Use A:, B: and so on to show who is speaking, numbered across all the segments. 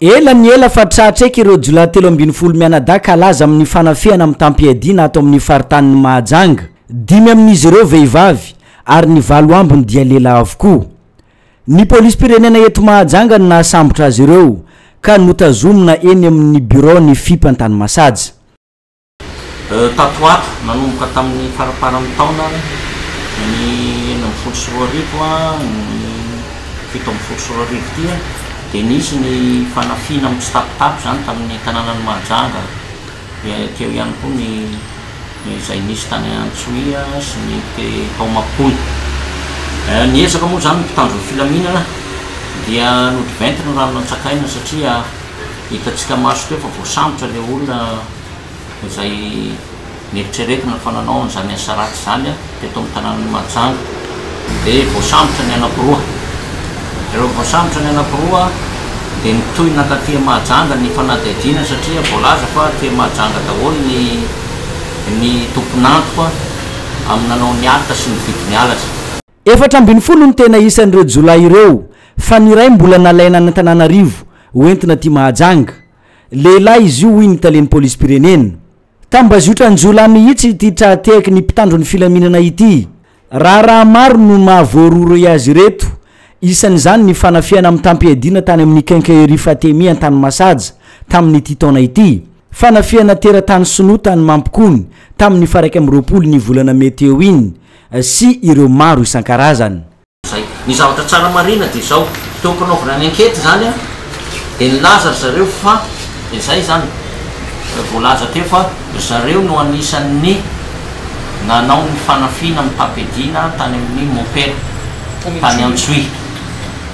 A: Ela ny ela fa tratra eky ireo jiolahy telo ambin'ny folo mianadahy kalaza amin'ny fanafihana mitam-piadiana ato amin'ny faritanin'i Mahajanga. Dimy amin'izy ireo vehivavy ary ny valo ambiny dia lehilahy avokoa. Ny polisim-pirenena eto Mahajanga no nahasambotra azy ireo ka notazomina eny amin'ny biraon'ny Fip Antanimasaja. Tato ho
B: ato, nanomboka tamin'ny faramparan'ny taona ny enina ambin'ny folo sy roa arivo ny fito ambin'ny folo sy roa arivo ity dia nisy ny fanafihana mitsitapitapy izany tamin'ny tanànan'i Mahajanga, dia teo ihany koa ny izay nisy tany Antsohihy sy ny tao Mampony. Niezaka moa izany ny mpitandro ny filaminana dia nodiventiny ny rano nantsakaina satria. Hitantsika maso teo fa voasambotra ilay olona izay neritreretina fa nanao an'izany asa ratsy izany teto amin'ny tanànan'i Mahajanga. Dia voasambotra ny anankiroa. Rehefa voasambotra ny anankiroa dia nitohy nankaty Mahajanga ny fanadihadiana satria voalaza fa aty Mahajanga daholo ny ny tompon'antoka amin'ny nanao ny aka sy nividy ny halatra. Efatra ambin'ny folo
A: no tena isan'ireo jiolahy ireo fa ny iray mbola nalaina any Antananarivo ho entina aty Mahajanga. Lehilahy izy io hoy ny talen'ny polisim-pirenena. Tambazotran-jiolahy mihitsy ity tra tehaky ny mpitandro ny filaminana ity. Raharaha maro no maha voarohirohy azy ireto, isan'izany ny fanafihana mitam-piadiana tany amin'ny Quincaillerie Fatemi Antanimasaja tamin'ity taona ity. Fanafihana teratany sinoa tany Mampikony tamin'ny faraika amby roapolo ny volana mey teo iny. sy ireo maro isan-karazany. Zay. Ny zavatra
B: tsara marihina dia izao, teo am-panaovana ny enquête izany dia nilaza ry zareo fa, dia zay izany, voalaza teo fa ry zareo no anisan'ny nanao ny fanafiana ny tapediana tany amin'ny mompera tany Antsohihy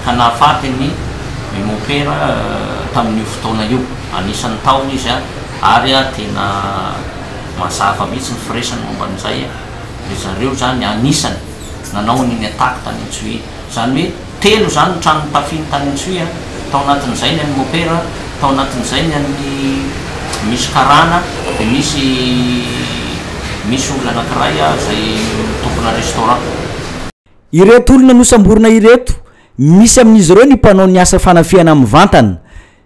B: ka nahafaty ny mompera tamin'io fotoana io. Anisan'ny tao izy ary tena mazava mihitsy ny firesany momba an'izay. Ry zareo izany anisany nanao an'iny attaque tany Antsohihy iny. Izany hoe telo izany ny trano notafiny tany Antsohihy an! Tao anatin'izay ny an'i Mopera, tao anatin'izay ny an'ny misy karana, dia misy misy olona anankiray izay tompona restaurant.
A: Ireto olona nosamborina ireto, misy amin'izy ireo ny mpanao ny asa fanafihana mivantana,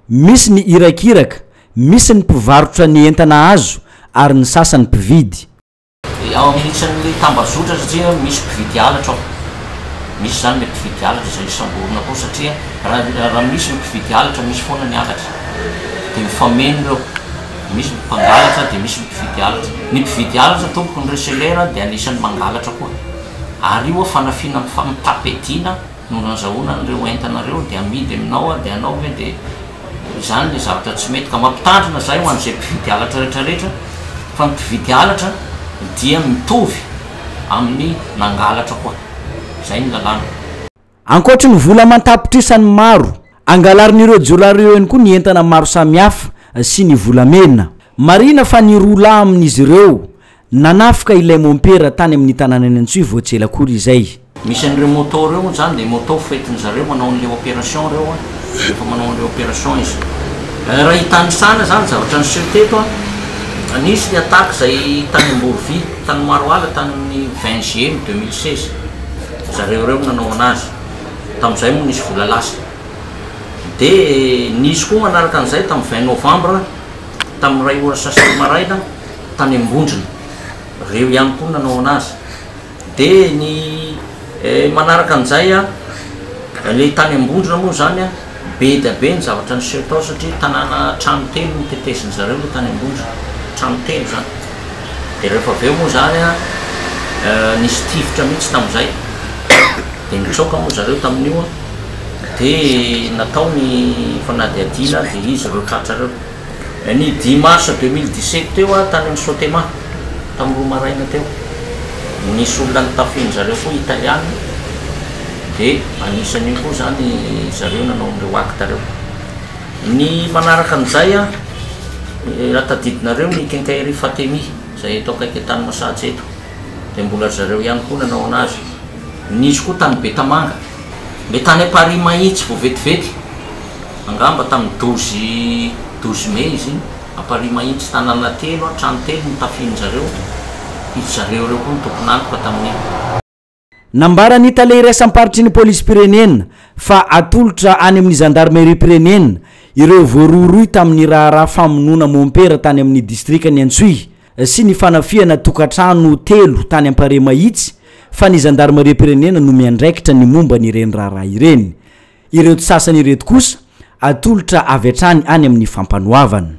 A: misy ny irakiraka, misy ny mpivarotra ny entana azo ary ny sasany mpividy. Dia ao amin'ny
B: isan'ny tambazotra satria misy mpividy halatra ao. Misy izany ilay mpividy halatra izay samborina koa satria raha raha misy ny mpividy halatra misy foana ny halatra. Dia mifameno ireo. Misy ny mpangalatra dia misy ny mpividy halatra. Ny mpividy halatra tompoko ny reseller dia anisan'ny mangalatra koa. Ary io fanafihana mifa mitam-piadiana no nazahoana an'ireo entana ireo dia amidy aminao dia anao ve dia Izany ilay zavatra tsy mety ka mampitandrina izahay ho an'izay mpividy halatra rehetra rehetra fa ny mpividy halatra dia mitovy amin'ny nangalatra koa. Izay ny lalàna. Ankoatry ny
A: vola aman-tapitrisany maro, angalarin'ireo jiolahy ireo ihany koa ny entana maro samihafa sy ny volamena. Marihina fa ny roa lahy amin'izy ireo Nanafika ilay mompera tany amin'ny tanànan'i Antsohihy vao tsy ela akory izay. Misy an'ireo moto
B: ireo moa izany dia moto foentin'ny zareo manao an'ilay opération ireo an, rehefa manao an'ilay opération izy. Raha hitanisana izany zavatra niseho teto an, nisy ny attaque izay tany Amborovy, tany Maroala tany amin'ny vingt GM deux mille seize, zareo ireo no nanao an'azy, tamin'izay moa nisy vola lasa. Dia nisy koa manaraka an'izay tamin'ny vingt novembre tamin'ny iray ora sasany maraina, tany ambondrona reo ihany koa nanao anazy de ny manaraka an'izay a le tany ambondrona moa zany a be dia be ny zavatra niseho tao satria tanàna trano telo no tetezin'ny zareo le tany ambondrona trano telo zany de rehefa avy eo moa zany a nisy tifitra mihitsy tamin'izay de nitsoaka moa zareo tamin'io a de natao ny fanadihadiana de izy reo tratra reo Ny dimy marsa deux mille dix sept teo aho tany amin'ny Sotema, tamin'ny roa maraina teo. Nisy olona nitafin'ny zareo koa Italiana, dia anisan'io koa izany zareo nanao an'ireo actes ireo. Ny manaraka an'izay, raha tadidinareo ny Quincaillerie Fatemi, izay eto akaiky Antanimasatsy eto, dia mbola ry zareo ihany koa nanao an'azy. Nisy koa tany Betamanga, ilay tany Amparihimahintsy vao vetivety. Angamba tamin'ny dozy dozy mey izy iny. A Paris mahitsy, tanàna telo a, trano telo no tafian'ny zareo. Izy zareo ireo koa no tompon'antoka tamin'iny.
A: Nambaran'ny tale iraisam-paritry ny polisim-pirenena fa atolotra any amin'ny zandarimeriam-pirenena ireo voarohirohy tamin'ny raharaha famonoana mompera tany amin'ny distrikan'i Antsohihy sy ny fanafihana tokantrano telo tany Ampariamahitsy fa ny zandarimariam-pirenena no miandraikitra ny momba an'ireny raharaha ireny. Ireto sasany ireto kosa atolotra avy hatrany any amin'ny Fampanoavana.